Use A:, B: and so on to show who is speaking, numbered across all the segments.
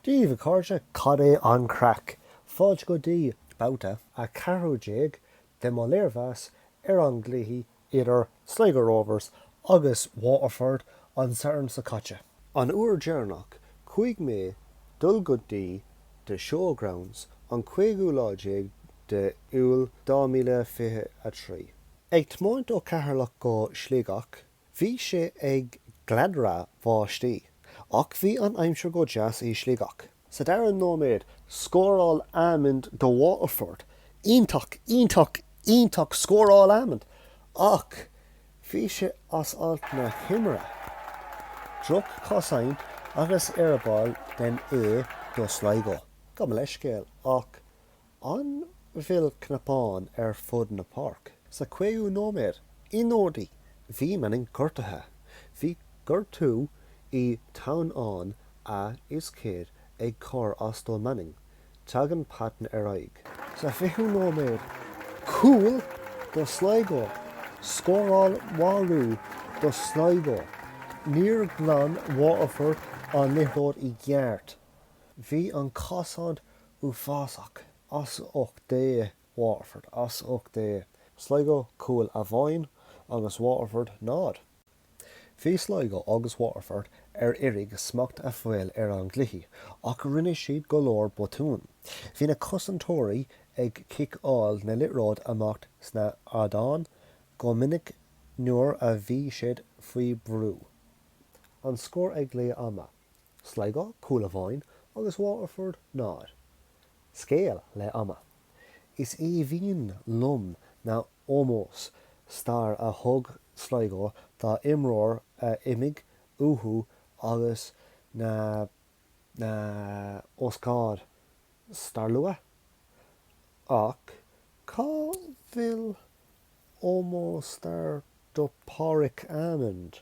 A: Daoibh a cairde, cad é an craic? Fáilte go dtí babhta 14 de mo léirmheas ar an gcluiche idir Sligo Rovers agus Waterford an Satharn seo caite. An uair deireanach chuaigh mé dul go dtí The Showgrounds an 15ú lá de Iúil 2023. Ag tiomáint ó Cheatharlach go Sligeach Bhí sé ag gleadhradh bháistí, ach bhí an aimsir go deas i Sligeach. Sa dara nóiméad, scóráil Amond do Waterford. Iontach, iontach, iontach! Scóráil Amond ach bhí sé as alt na himeartha. Droch-chosaint agus eireaball den ea do Sligo. Gabh mo leithscéal ach an bhfuil cnapán ar fud na páirc. Sa 5ú nóiméad, i nDundee, bhí Manning gortaithe. Bhí gortú i teannán na hioscaide ag cur as do Manning. Tagann Patton ar aghaidh. Sa 20ú nóiméad, cúl do Sligo. Scóráil Waweru do Sligo. Níor ghlan Waterford an liathróid i gceart. Bhí an cosaint uafásach, as ucht Dé, Waterford, as ucht Dé, Sligo, cúl amháin, agus Waterford, 0. Bhí Sligo agus Waterford ag iarraidh smacht a fháil ar an gcluiche ach rinne siad go leor botún. Bhí na cosantóirí ag ciceáil na liathróid amach sna hardáin go minic nuair a bhí siad faoi brú. An scór ag leath ama. Sligo, cúl amháin agus Waterford 0. Scéal leath ama. Is aoibhinn liom na hómós stair a thug Sligo dá imreoir a imigh uathu agus na na hócáid stairiúla ach cá bhfuil ómós stair do Pádraig Amond?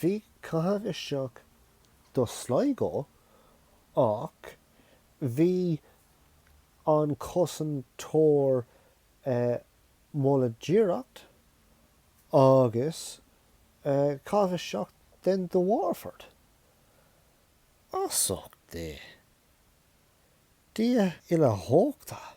A: Bhí caitheamh isteach do Sligo ach bhí an cosantóir moladh d'iarracht agus caitheamh isteach den do Waterford. As ucht Dé. Dia uilechumhachtach